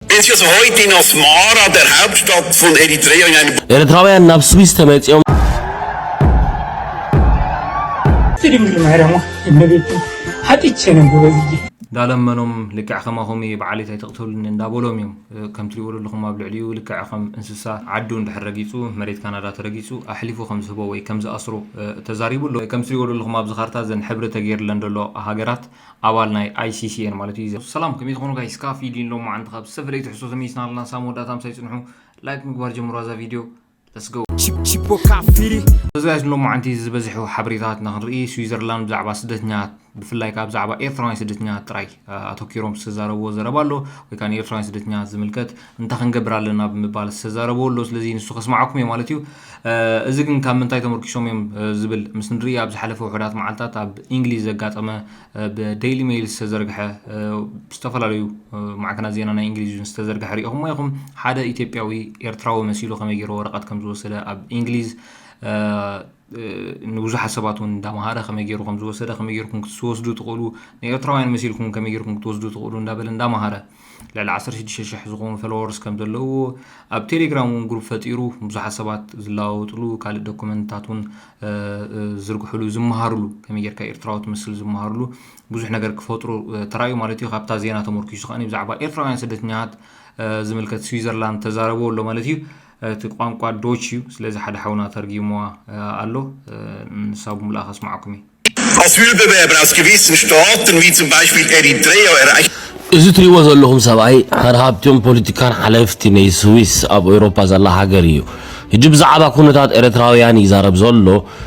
Dit is heute in Asmara, der Hauptstadt von Eritrea, in einem ኤርትራውያን ናብ ስዊስ ተመጺኦም ትድምር ማይራማ እመቤት ሓጢቼ ነው ጎበዝዬ እንዳለመኖም ልክዕ ከማኹም እየ በዓል እንታይ ተቕተሉኒ እንዳበሎም እዮም ከም ትሪእዎ ዘለኹም ኣብ ልዕሊኡ ልክዕ ከም እንስሳ ዓዱ እንድሕር ረጊጹ መሬት ካናዳ ተረጊጹ ኣሕሊፉ ከም ዝህቦ ወይ ከም ዝኣስሮ ተዛሪቡ ኣሎ ከም ትሪእዎ ዘለኹም ኣብዚ ካርታ ዘን ሕብሪ ተገይርለን ዘሎ ሃገራት ኣባል ናይ ኣይሲሲ እየን ማለት እዩ። ሰላም ከመይ ትኾኑ ጋይስ ካብ ፊዲን ሎማዓንቲ ካብ ዝተፈላለዩ ትሕዝቶ ተመይስና ኣለና ሳብ መወዳእታ ምሳይ ጽንሑ ላይክ ምግባር ጀምሩዋ እዛ ቪድዮ let's go እዚ ጋይስ ንሎማዓንቲ ዝበዝሑ ሓበሬታት ንክንርኢ ስዊዘርላንድ ብዛዕባ ስደተኛት ብፍላይ ካብ ብዛዕባ ኤርትራውያን ስደተኛት ጥራይ ኣተኪሮም ዝተዛረብዎ ዘረባ ኣሎ ወይ ከዓ ንኤርትራውያን ስደተኛት ዝምልከት እንታይ ክንገብር ኣለና ብምባል ዝተዛረብዎ ኣሎ። ስለዚ ንሱ ከስምዓኩም እየ ማለት እዩ። እዚ ግን ካብ ምንታይ ተመርኪሶም እዮም ዝብል ምስ ንርኢ ኣብ ዝሓለፈ ውሑዳት መዓልታት ኣብ እንግሊዝ ዘጋጠመ ብደይሊ ሜይል ዝተዘርግሐ ዝተፈላለዩ ማዕከናት ዜና ናይ እንግሊዝ እውን ዝተዘርግሐ ሪኢኹሞ ኢኹም። ሓደ ኢትዮጵያዊ ኤርትራዊ መሲሉ ከመይ ገይሩ ወረቐት ከም ዝወሰደ ኣብ እንግሊዝ ንብዙሓት ሰባት እውን እንዳምሃረ ከመይ ገይሩ ከም ዝወሰደ ከመይ ገይርኩም ክትወስዱ ትኽእሉ ንኤርትራውያን መሲልኩም ከመይ ገይርኩም ክትወስዱ ትኽእሉ እንዳበለ እንዳምሃረ ልዕሊ 16 ሽሕ ዝኾኑ ፈለወርስ ከም ዘለዎ ኣብ ቴሌግራም እውን ግሩፕ ፈጢሩ ብዙሓት ሰባት ዝለዋወጥሉ ካልእ ዶኩመንትታት እውን ዝርግሕሉ ዝመሃርሉ ከመይ ጌርካ ኤርትራዊ ትመስል ዝመሃርሉ ብዙሕ ነገር ክፈጥሩ ተራእዩ ማለት እዩ ካብታ ዜና ተመርኪሱ ከኣ ብዛዕባ ኤርትራውያን ስደተኛታት ዝምልከት ስዊዘርላንድ ተዛረበ ኣሎ ማለት እዩ እቲ ቋንቋ ዶች እዩ ስለዚ ሓደ ሓውና ተርጊምዋ ኣሎ ንሳ ብምልኣ ከስማዓኩም እየ። Als we de Weberaskewitsen Staaten, wie zum Beispiel Eritrea, erreichen. እዚ ትሪእዎ ዘለኹም ሰብኣይ ሓደ ካብቲኦም ፖሊቲካን ሓለፍቲ ነይ ስዊስ ኣብ ኤውሮፓ ዘላ ሃገር ኢዩ። ህጂ ብዛዓባ ኩነታት ኤረትራዊያን ይዛረብ ዞሎ።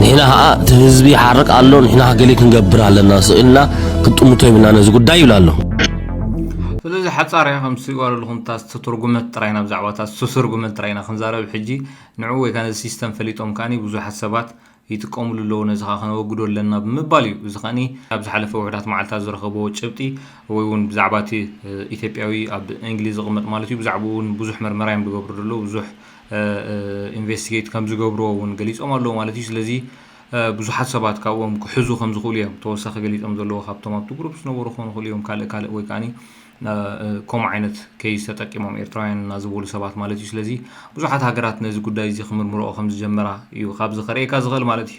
ንሕና ኸኣ እቲ ህዝቢ ይሓርቅ ኣሎ፣ ንሕና ገለ ክንገብር ኣለና፣ ስቕ ኢልና ክንጥምቶ የብልናን ነዚ ጉዳይ ይብል ኣሎ። ስለዚ ሓጻር እያ ከም ስጓለሉ ኩንታ ዝተተርጉመት ጥራይ ናብ ዛዕባታት ዝተተርጉመን ጥራይ ኢና ክንዛረብ ሕጂ ንዑ ወይ ከኣ ነዚ ሲስተም ፈሊጦም ከኣ ብዙሓት ሰባት ይጥቀምሉ ኣለዉ ነዚ ከኣ ከነወግዶ ኣለና ብምባል እዩ እዚ ከኣ ኣብ ዝሓለፈ ውሕዳት መዓልታት ዝረኸብዎ ጭብጢ ወይ እውን ብዛዕባ እቲ ኢትዮጵያዊ ኣብ እንግሊዝ ዝቕመጥ ማለት እዩ ብዛዕባኡ እውን ብዙሕ መርመራ እዮም ዝገብሩ ዘለዉ ብዙሕ ኢንቨስቲጌት ከም ዝገብርዎ እውን ገሊፆም ኣለው ማለት እዩ። ስለዚ ብዙሓት ሰባት ካብኦም ክሕዙ ከም ዝኽእሉ እዮም ተወሳኺ ገሊፆም ዘለዎ ካብቶም ኣብቲ ግሩፕ ዝነበሩ ክኾኑ ይኽእሉ እዮም ካልእ ካልእ ወይ ከዓኒ ከምኡ ዓይነት ኬይስ ተጠቂሞም ኤርትራውያን እና ዝበሉ ሰባት ማለት እዩ። ስለዚ ብዙሓት ሃገራት ነዚ ጉዳይ እዚ ክምርምርኦ ከም ዝጀመራ እዩ ካብዚ ከርእየካ ዝኽእል ማለት እዩ።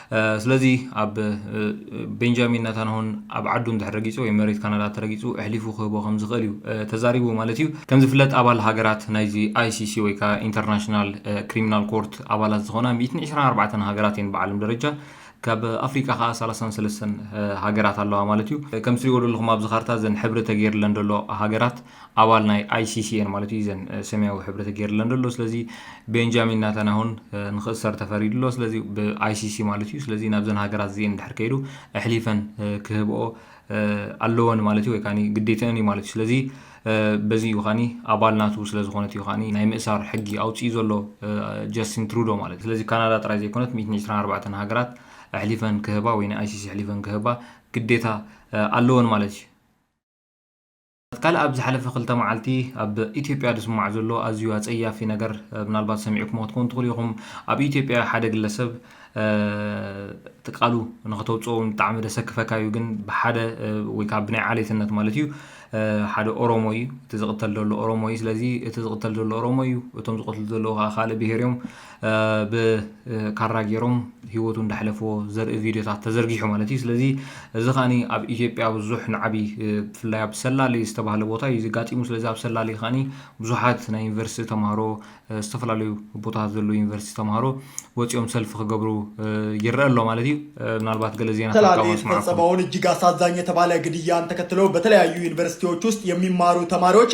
ስለዚ ኣብ ቤንጃሚን ናታንሆን ኣብ ዓዱ እንድሕር ረጊጹ ወይ መሬት ካናዳ ተረጊጹ እሕሊፉ ክህቦ ከም ዝኽእል እዩ ተዛሪቡ ማለት እዩ። ከም ዝፍለጥ ኣባል ሃገራት ናይዚ ICC ወይ ከኣ ኢንተርናሽናል ክሪሚናል ኮርት ኣባላት ዝኾና ሚእትን ዕስራን ኣርባዕተን ሃገራት እየን ብዓለም ደረጃ። ካብ ኣፍሪቃ ከኣ ሰላሳን ሰለስተን ሃገራት ኣለዋ ማለት እዩ። ከምቲ ትሪእዎ ደለኹም ኣብዚ ካርታ እዘን ሕብሪ ተጌርለን ደሎ ሃገራት ኣባል ናይ ICC እየን ማለት እዩ ዘን ሰማያዊ ሕብሪ ተገይርለን ዘሎ ስለዚ ቤንጃሚን ናታናሁን ንክእሰር ተፈሪዱ ኣሎ ስለዚ ብኣይሲሲ ማለት እዩ ስለዚ ናብዘን ሃገራት እዚኤን ድሕር ከይዱ ኣሕሊፈን ክህብኦ ኣለወን ማለት እዩ ወይ ከዓ ግዴተአን እዩ ማለት እዩ ስለዚ በዚ እዩ ኸኒ ኣባል ናቱ ስለ ዝኾነት እዩ ኸኒ ናይ ምእሳር ሕጊ ኣውፅኡ ዘሎ ጀስቲን ትሩዶ ማለት እዩ ስለዚ ካናዳ ጥራይ ዘይኮነት 124 ሃገራት ኣሕሊፈን ክህባ ወይ ንኣይሲሲ ኣሕሊፈን ክህባ ግዴታ ኣለወን ማለት እዩ ካልእ ኣብ ዝሓለፈ ክልተ መዓልቲ ኣብ ኢትዮጵያ ዝስማዕ ዘሎ ኣዝዩ ኣጸያፊ ነገር ምናልባት ሰሚዕኩሞ ክትኮኑ ትኽእሉ ኢኹም። ኣብ ኢትዮጵያ ሓደ ግለሰብ ትቃሉ ንኸተውጽኦ እውን ብጣዕሚ ደሰክፈካ እዩ ግን ብሓደ ወይ ካብ ብናይ ዓሌትነት ማለት እዩ ሓደ ኦሮሞ እዩ እቲ ዝቕተል ዘሎ ኦሮሞ እዩ ስለዚ እቲ ዝቕተል ዘሎ ኦሮሞ እዩ እቶም ዝቐትሉ ዘለዉ ከዓ ካልእ ብሄር እዮም ብ ካራ ጌሮም ሂወቱ እንዳሕለፍዎ ዘርኢ ቪድዮታት ተዘርጊሑ ማለት እዩ ስለዚ እዚ ከኣ ኣብ ኢትዮጵያ ብዙሕ ንዓቢ ብፍላይ ኣብ ሰላሌ ዝተባህለ ቦታ እዩ ዘጋጢሙ ስለዚ ኣብ ሰላሌ ከኣ ብዙሓት ናይ ዩኒቨርሲቲ ተማሃሮ ዝተፈላለዩ ቦታታት ዘለዉ ዩኒቨርሲቲ ተማሃሮ ወፂኦም ሰልፊ ክገብሩ ይረአ ኣሎ ማለት እዩ ምናልባት ገለ ዜና ሰላሌ የተፈጸመውን እጅግ አሳዛኝ የተባለ ግድያን ተከትሎ በተለያዩ ዩኒቨርሲቲዎች ውስጥ የሚማሩ ተማሪዎች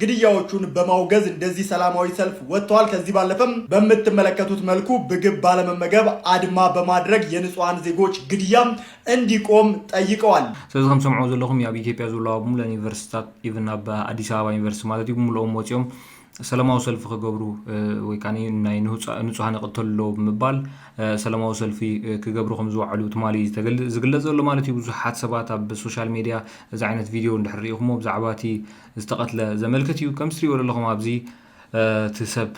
ግድያዎቹን በማውገዝ እንደዚህ ሰላማዊ ሰልፍ ወጥተዋል። ከዚህ ባለፈም በምትመለከቱት መልኩ ብግብ ባለመመገብ አድማ በማድረግ የንጹሃን ዜጎች ግድያ እንዲቆም ጠይቀዋል። ስለዚ ከም ሰምዕዎ ዘለኹም እዩ ኣብ ኢትዮጵያ ዘለዋ ብሙሉእ ዩኒቨርሲቲታት ኢቭን ኣብ ኣዲስ ኣበባ ዩኒቨርሲቲ ማለት እዩ ብሙሉኦም ወፂኦም ሰላማዊ ሰልፊ ክገብሩ ወይ ከዓ ናይ ንፁሃን ይቕተሉ ኣለዎ ብምባል ሰላማዊ ሰልፊ ክገብሩ ከም ዝወዓሉ ትማሊ ዝግለፅ ዘሎ ማለት እዩ ብዙሓት ሰባት ኣብ ሶሻል ሜድያ እዚ ዓይነት ቪድዮ እንድሕር ሪኢኹሞ ብዛዕባ እቲ ዝተቀትለ ዘመልክት እዩ ከም ትሪእዎ ዘለኹም ኣብዚ እቲ ሰብ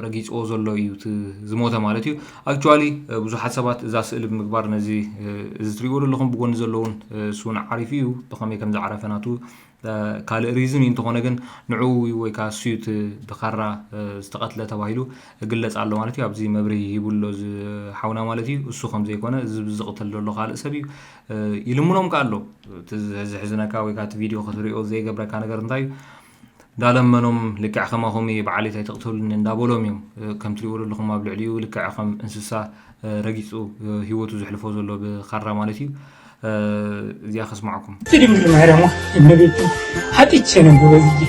ረጊፅዎ ዘሎ እዩ ዝሞተ ማለት እዩ ኣክቹዋሊ ብዙሓት ሰባት እዛ ስእሊ ብምግባር ነዚ እዚ ትሪእዎ ዘለኹም ብጎኒ ዘለውን እሱውን ዓሪፉ እዩ ብኸመይ ከም ዝዓረፈ ናቱ ካልእ ሪዝን እዩ እንተኾነ ግን ንዕኡ እዩ ወይ ከዓ እሱ እቲ ብካራ ዝተቐትለ ተባሂሉ ግለፅ ኣሎ ማለት እዩ ኣብዚ መብርሂ ሂቡሎ ዝሓውና ማለት እዩ እሱ ከም ዘይኮነ እዚ ዝቕትል ዘሎ ካልእ ሰብ እዩ ይልምኖም ከ ኣሎ እቲ ዘሕዝነካ ወይ እቲ ቪድዮ ክትሪኦ ዘይገብረካ ነገር እንታይ እዩ ዳለመኖም ልክዕ ከማኹም እየ በዓለይት ኣይትቕተሉኒ እንዳበሎም እዮም ከም ትሪእዎ ዘለኹም ኣብ ልዕሊኡ ልክዕ ከም እንስሳ ረጊፁ ሂወቱ ዘሕልፎ ዘሎ ብካራ ማለት እዩ እዚኣ ከስማዕኩም ድንግል ማርያም እመቤቴ ሓጢቼ ነው ጎበዝዬ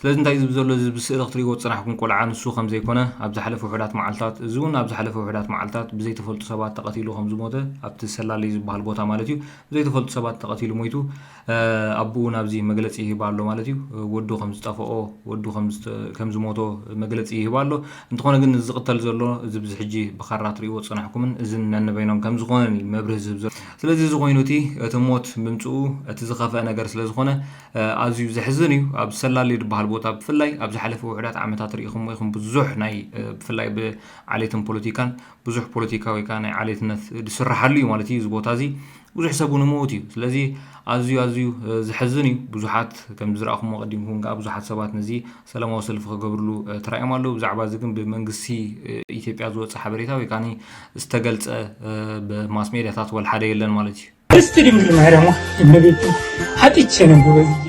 ስለዚ እንታይ እዚ ብዘሎ እዚ ብስእሊ ክትርእይዎ ዝጸናሕኩም ቆልዓ ንሱ ከም ዘይኮነ ኣብ ዝሓለፈ ውሑዳት መዓልታት እዚ እውን ኣብ ዝሓለፈ ውሑዳት መዓልታት ብዘይተፈልጡ ሰባት ተቐቲሉ ከም ዝሞተ ኣብቲ ሰላለይ ዝበሃል ቦታ ማለት እዩ ብዘይተፈልጡ ሰባት ተቐቲሉ ሞይቱ ኣቡኡ ናብዚ መግለጺ ይህብ ኣሎ ማለት እዩ ወዱ ከም ዝጠፈኦ ወዱ ከም ዝሞቶ መግለጺ ይህብ ኣሎ እንተኾነ ግን እዚ ዝቕተል ዘሎ እዚ ብዚ ሕጂ ብካራ ትርእይዎ ዝጸናሕኩምን እዝን ነንበይኖም ከም ዝኾነን እዩ መብርሂ ዝህብ ዘሎ ስለዚ እዚ ኮይኑ እቲ እቲ ሞት ምምጽኡ እቲ ዝኸፍአ ነገር ስለ ዝኾነ ኣዝዩ ዘሕዝን እዩ ኣብ ሰላሌ ድበሃል ቦታ ብፍላይ ኣብ ዝሓለፈ ውሑዳት ዓመታት ርኢኹሞ ኢኹም ብዙሕ ናይ ብፍላይ ብዓሌትን ፖለቲካን ብዙሕ ፖለቲካ ወይ ከዓ ናይ ዓሌትነት ዝስራሓሉ እዩ ማለት እዩ እዚ ቦታ እዚ ብዙሕ ሰብ እውን ይመውት እዩ ስለዚ ኣዝዩ ኣዝዩ ዘሕዝን እዩ ብዙሓት ከም ዝረኣኹሞ ቀዲምኩም ከዓ ብዙሓት ሰባት ነዚ ሰላማዊ ሰልፊ ክገብርሉ ተራእዮም ኣለዉ። ብዛዕባ እዚ ግን ብመንግስቲ ኢትዮጵያ ዝወፀ ሓበሬታ ወይ ከዓ ዝተገልፀ ብማስ ሜዲያታት ወልሓደ የለን ማለት እዩ። ቅድስት ድንግል ማርያም እመቤቴ ኃጢቼ ነው ጎበዝዬ